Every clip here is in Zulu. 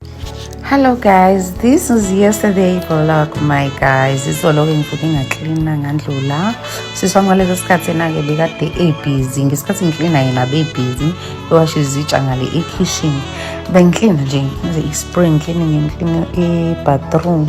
Hello guys, this is yesterday vlog my guys. Izoloke ngivuke ngaklina ngandlula. Sisi wami ngaleso sikhathi enake bekade ebusy. Ngesikhathi ngiklina yena bebusy. Ewasha izitsha ngale ekitchen. Bengiklina nje ngize i-spring cleaning ngiklina i-bathroom.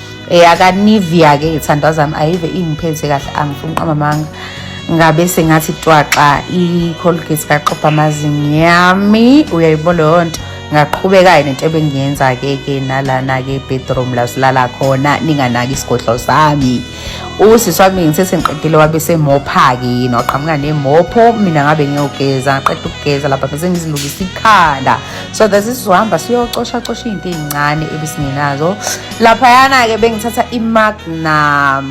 eyakanivia ke ithandwa zami ayive ingiphethe kahle angifuni uqamba amanga ngabe sengathi twaxa i-colgate kaxobha amazinyo yami uyayibona leyo nto ngaqhubeka-ke nento ebengiyenza-ke ke nalana-ke bedroom la silala khona ninganaki isigodlo sami usisi wami ngithe sengiqedile wabe semopha-ke yini waqhamuka nemopho mina ngabe ngiyogeza ngaqeda ukugeza lapha bese ngizilungisa ikhanda so that sisizohamba siyocoshacosha iy'nto ey'ncane ebesingenazo laphayana-ke bengithatha imagnum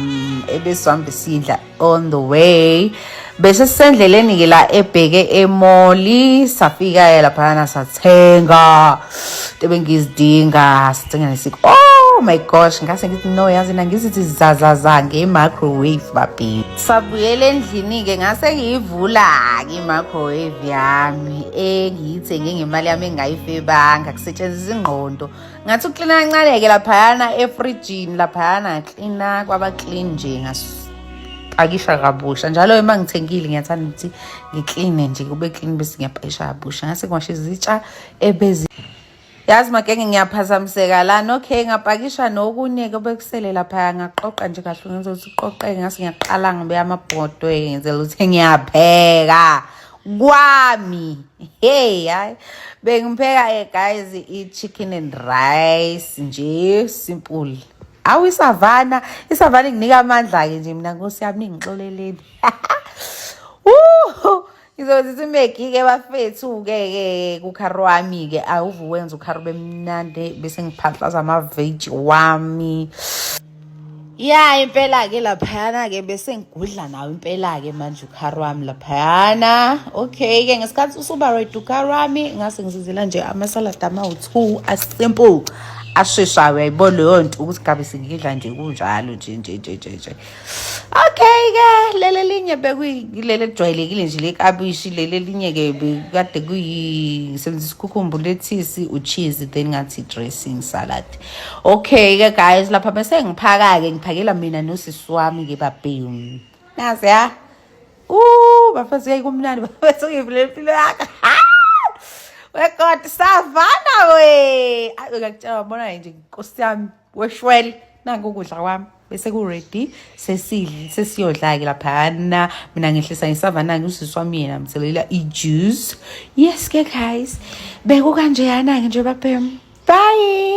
ebesihambe sidla on the way bese sisendleleni-ke la ebheke emoli safika-ke laphayana sathenga into bengizidinga sithenga nesiko oh my gosh ngase ngithi no yazi na ngizithi zazaza nge-microwave babheki sabuyela endlini-ke ngase ngiyivula-ke i-microwave yami engiyithenge ngemali yami engingayifebanga kusetshenziswa ingqondo ngathi uklina kancane-ke laphayana efrijini laphayana klina kwaba clean nje ngapakisha kabusha njalo uma ngithengile ngiyathanda ukuthi ngikline nje kube clean bese ngiyapakisha kabusha ngase ngiwashe izitsha ebezi yazi makenge ngiyaphazamiseka lana okay ngapakisha nokunye-ke obekusele laphaya ngaqoqa nje kahle ngenza ukuthi uqoqeke ngase ngiyaqala ngibe amabhodwe ngenzela ukuthi ngiyapheka kwami hey hayi bengipheka eh, guys i-chicken and rice nje simple awu isavana isavana inginika amandla-ke nje mina nkosi yami ningixoleleni ngizozisa imegi-ke bafethu-ke ke kukhari wami-ke awuvuwenza ukhari bemnandi bese ngiphathlaza amaveji wami ya impela-ke laphayana-ke bese ngigudla nawo impela-ke manje ukhar wami laphayana okay-ke ngesikhathi usuba right ukhar wami ngase ngizizela nje amasalada amawu-two asimple asheshayo uyayibona leyo nto ukuthi gabe sengidla nje kunjalo nje nje nje nje nje okay-ke lele linye bekuyilele lijwayelekile nje lekabishi lele linye-ke kade kuyi ngisebenzisa ukhukhumbu lethisi ucheese then ngathi dressing salad Okay-ke guys lapha bese ngiphaka-ke ngiphakela mina nosisi wami-ke babhemu nazi ya u bafazi yayi kumnandi bafethu ngivulela impilo yakhe wekoti savana we ayo ngakutshela wabona nje nkosi yami weshwele nanku ukudla kwami bese ku-ready sesidle sesiyodla-ke laphana mina ngehlisa ngisavana-ke usisi wami yena mthelela i-juice yes-ke guys beku kanjeyana-ke nje babhem bye